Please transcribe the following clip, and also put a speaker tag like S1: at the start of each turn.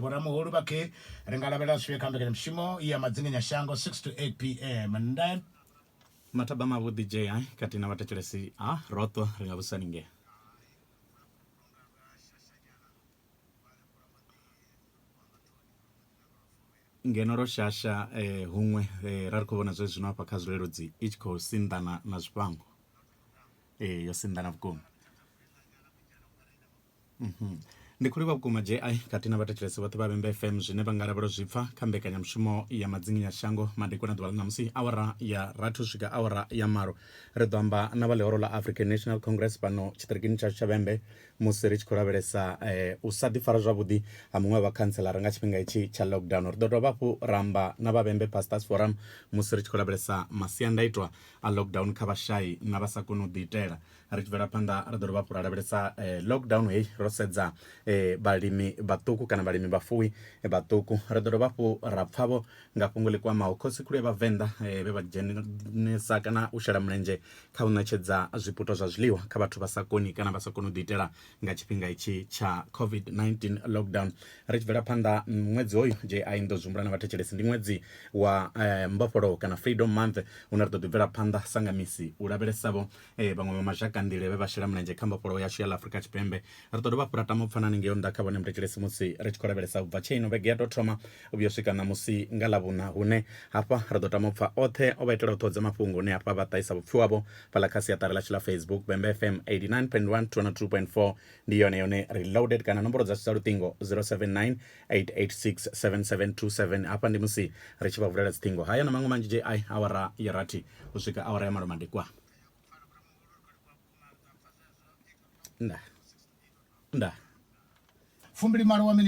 S1: Vhoramuhulu vha khe ri nga lavhelela zwifhio kha mbekanyamushumo ya Madzinginyashango 6 to 8 pm? Ndayo. Mathaba
S2: mavhuḓi JI khathihi na vhathetshelesi ha Roṱo ri nga vhudzisa ni ngea. Ngeno ro shasha huṅwe ra ri khou vhona zwezwino hafha kha zwileludzi i tshi khou sinḓana na zwifhango. Ee, yo sinḓana vhukuma. Ndi khou livhuwa vhukuma JI khathihi na vhathetshelesi vhoṱhe vha Vhembe FM zwine vha nga lavhelwa zwi pfa kha mbekanyamushumo ya Madzinginya Shango madekwana ḓuvha ḽa ṋamusi awara ya rathi u swika awara ya malo. Ri ḓo amba na vha ḽihoro ḽa African National Congress fhano tshiṱirikini tshashu tsha Vhembe musi ri tshi khou lavhelesa u sa ḓifara zwavhuḓi ha muṅwe wa vhakhantseḽara nga tshifhinga itshi tsha lockdown. Ri ḓo dovha hafhu ra amba na vha Vhembe Pastors Forum musi ri tshi khou lavhelesa masiandaitwa a lockdown kha vhashai na vha sa koni u ḓiitela. Ri tshi bvela phanḓa ri ḓo dovha hafhu ra lavhelesa lockdown heyi ro sedza vhalimi vhaṱuku kana vhalimi vhafuwi vhaṱuku ri ḓo dovha hafhu ra pfavho nga fhungo ḽi kwamaho khosi khulu ya vhavenḓa vhe vha dzhenisa kana u shela mulenzhe kha u ṋetshedza zwiputo zwa zwiḽiwa kha vhathu vha sa koni kana vha sa koni u ḓiitela nga tshifhinga itshi tsha covid-19 lockdown ri tshi bvela phanḓa ṅwedzi hoyu je a inḓo zwihumbula na vhathetshelesi ndi ṅwedzi wa mbofholowo kana freedom month hune ri ḓo ḓi bvela phanḓa sanga misi u lavhelesavho ee vhaṅwe vha mashaka nḓila vhe vha shela mulenzhe kha mbofholowo yashu ya ḽa afurika tshipembe ri ḓo dovha fhura tama u pfana ningeo nnḓa kha vhone muthetshelesi musi ri tshi khou lavhelesa ubva tshe ino vhege ya tou thoma u vhuya u swika ṋamusi nga ḽa vhuna hune hafha ri ḓo tama u pfa oṱhe o vha itela u ṱhodza mafhungo hune hafha vha ṱahisa vhupfi wavho fhaḽa kha siaṱari ḽashu ḽa facebook bembe fm 89.1 202.4 ndi yone yone reloaded kana nomboro dzashu dza luṱingo 079 8867727 hafha ndi musi ri tshi vha vulela dziṱhingo haya na maṅwe manzhi ji awara ya rathi u swika awara ya malo madekwa
S1: nda nda fumbili malo wa